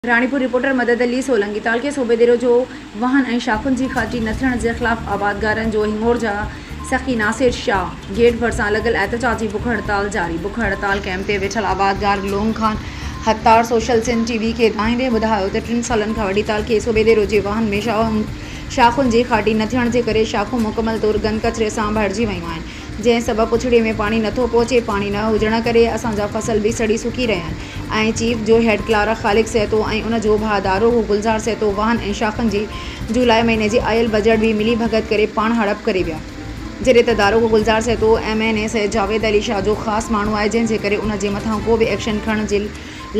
Ranipur, reporter, Madad Ali Solangi تعلقي صوبيديرو جو واهن ۽ شاخن جي کاٽي نه ٿيڻ جي خلاف آبادگارن جو هنڱور جا سخي ناصر شاهه گيٽ ڀرسان لڳل احتجاجي بک هڙتال جاري بک هڙتال ڪئمپ تي ويٺل آبادگار Loung Khan Sattar social Sindh T V کي ٻڌائيندي ٻڌايو ته ٽن سالن کان وٺي تعلقي صوبيديرو جي واهن ۾ شاخن جي کاٽي نه ٿيڻ جي ڪري شاخون مڪمل طور گند ڪچري سان ڀرجي ويون آهن جنهن سبب پڇڙي ۾ پاڻي نه ٿو پهچي، پاڻي نه هجڻ ڪري اسان جا فصل به سڙي سڪي رهيا آهن ۽ چيف جو هيڊ ڪلارڪ خالق سهتو ۽ ان جو ڀاء داروغو گلزار سهتو واهن ۽ شاخن جي جولاء مهيني جي آيل بجيٽ به ملي ڀڳت ڪري پاڻ هڙپ ڪري ويا جڏهن ته داروغو Gulzar Sahito M N A Syed Javed Ali Shah جو خاص ماڻهو آهي جنهن جي ڪري ان جي مٿان ڪو به ايڪشن کڻڻ جي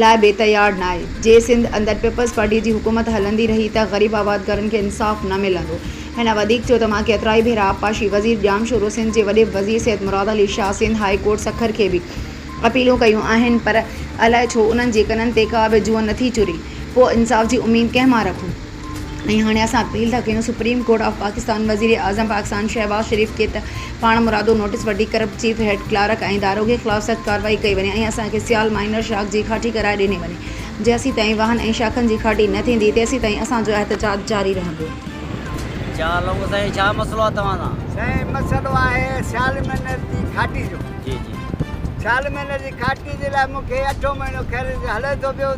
لاء بي تيار ناهي. جي سنڌ اندر پيپلز پارٽيء جي حڪومت هلندي رهي ته غريب آباد گهرن کي انصاف نه ملندو. هن وڌيڪ چيو ته مان ڪيترائي ڀيرا آبپاشي وزير ڄامشورو، سنڌ جي وڏي وزير سيد مراد علي شاهه، سنڌ هاء ڪورٽ سکر کي به اپيلون ڪيون آهن پر الائي ڇو انهن جي ڪنن تي ڪا به جونء نٿي چري. پوء انصاف جي اميد ڪنهن مان رکون؟ ۽ هاڻي اسان اپيل ٿا ڪيون سپريم ڪورٽ آف پاڪستان وزيراعظم پاڪستان شهباز شريف کي ته پاڻ مرادو نوٽيس وٺي ڪرپٽ چيف هيڊ ڪلارڪ ۽ داروغي خلاف سخت ڪارروائي ڪئي وڃي ۽ اسان کي سيال مائنر شاخ جي کاٽي ڪرائي ڏني وڃي جيسين تائين واهن ۽ شاخن جي کاٽي نه ٿيندي تيسين تائين اسان جو احتجاج جاري رهندو.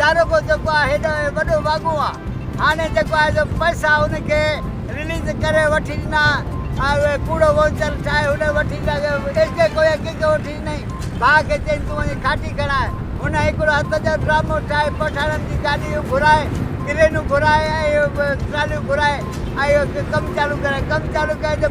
داروغو جيڪو آهي هيڏو وڏو واڳون آ هاڻي جيڪو آهي سو پئسا هن کي رليز ڪري وٺي ڏنا اهي ڪوڙو وونچر ٺاهي هن وٺي ڏنا ايڪي ڪوئي ڪنهن کي وٺي ڏنائين ڀاء کي چين تون وڃي کاٽي کڻاء هن هڪڙو هٿ جو ڊرامو ٺاهي پٺاڻن جي گاڏيون گهرائي ڪرينون گهرائي ۽ ٽراليون گهرائي ۽ اهو ڪم چالو ڪرايو ڪم چالو ڪيو جو